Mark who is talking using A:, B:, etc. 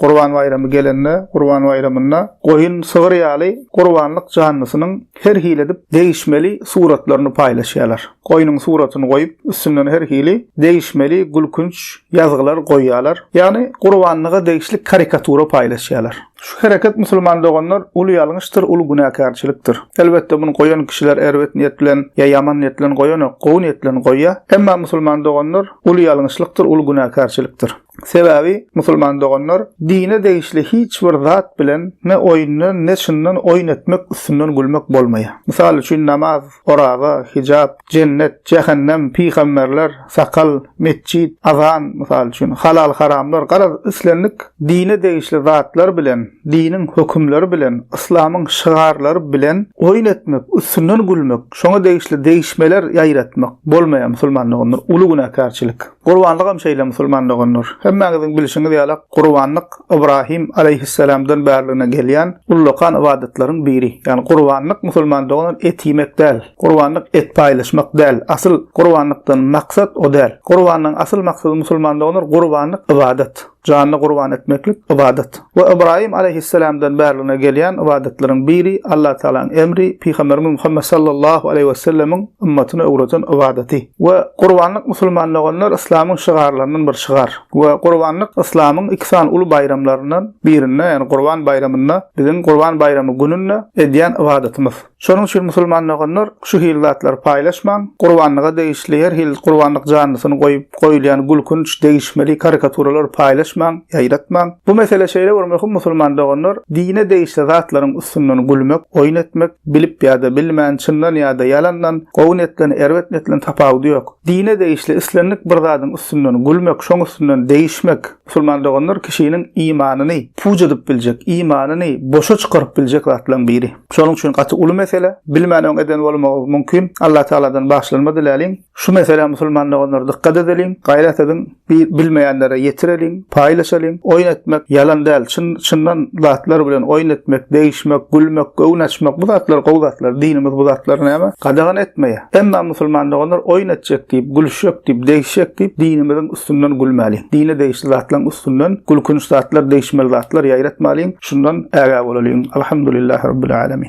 A: Gurban baýramy gelende, Gurban baýramynda goýun, sygyr ýaly gurbanlyk janlysynyň her hili edip degişmeli suratlaryny paýlaşýarlar. Goýnuň suratyny goýup, üstünden her hili degişmeli gülkünç ýazgylar goýýarlar. Ýagny gurbanlyga degişli karikatura paýlaşýarlar. Şu hereket musulman doganlar uly ýalňyşdyr, uly günäkärçilikdir. Elbetde muny goýan kişiler erbet niýet bilen ýa ýaman niýet bilen goýanok, gowy niýet bilen goýýar. Emma musulman doganlar uly ýalňyşlykdyr, uly günäkärçilikdir. Sebäbi musulman doganlar dine degişli hiç bir zat bilen ne oýundan ne çyndan oýun etmek üstünden gülmek bolmaýar. Mysal üçin namaz, oraza, hijap, jennet, jähennem, pygamberler, sakal, metjit, azan, mysal üçin halal haramlar garaz islendik dine degişli zatlar bilen diniň hökümleri bilen yslamyň şygarlary bilen oýun etmek üstünden gülmek şoňa degişli degişmeler ýaýratmak bolmaýar musulman doganlar uly günäkärçilik. Gurbanlygam şeýle musulman doganlar. Hemmäňiziň bilşiňiz ýaly gurbanlyk Ybrahym alaýhyssalamdan bärligine gelýän ullakan ybadatlaryň biri. Ýagny gurbanlyk musulman doganlar et iýmek däl. Gurbanlyk et paýlaşmak däl. Asyl gurbanlykdan maksat o däl. Gurbanlygyň asyl maksady musulman doganlar gurbanlyk ybadat. Janyny gurban etmeklik ybadat. We Ybraýym alaýhyssalamdan bärligine gelýän ybadatleriň biri Allatagalaň emri, Pygamberimiz Muhammet sallallahu aleýhi wesellemiň ymmatyna öwreden ybadaty. We gurbanlyk musulman doganlar yslamyň şygarlaryndan bir şygar. We gurbanlyk yslamyň iki sany uly baýramlaryndan birinde, ýagny gurban baýramynda, biziň gurban baýramy gününde edýän ybadatymyz. Şonuň üçin musulman doganlar, şu hili zatlary paýlaşmaň, gurbanlyga degişli her hili gurbanlyk janlysyny goýup goýulýan gülkünç, degişmeli karikaturalary paýlaşmaň, ýaýratmaň. Bu mesele şeýle bir möhüm musulman doganlar, dine degişli zatlaryň üstünden gülmek, oýun etmek, bilip ýa-da bilmän, çyndan ýa-da ýalandan, gowy niýetlen, erbet niýetlen tapawudy ýok. Dine degişli islendik bir zadyň üstünden gülmek, şoň üstünden degişmek, Musulman doganlar kişiniň imanyny puç edip biljek, imanyny boşa çykaryp biljek zatlaryň biri. Şonuň üçin gaty uly mesele. Bilmän öň eden bolmagy mümkin. Allah Tagaladan bagyşlanma diläliň. Şu meselä musulman doganlar dykgat edeliň, gaýrat ediň, bilmeýänlere ýetireliň, paýlaşalyň. Oýun etmek ýalan däl, çyn, çyndan zatlar bilen oýun etmek, degişmek, gülmek, göwün açmak bu zatlar gowy zatlar. Dinimiz bu zatlary näme? Gadagan etmeýär. Emma musulman doganlar oýun etjek diýip, gülüşjek diýip, degişjek diýip dinimiziň üstünden gülmäliň. Dine degişli zatlaryň üstünden gülkünç zatlar, degişmeli zatlar ýaýratmalyň. Şundan ägä bolalyň. Alhamdulillah Rabbil Alamin.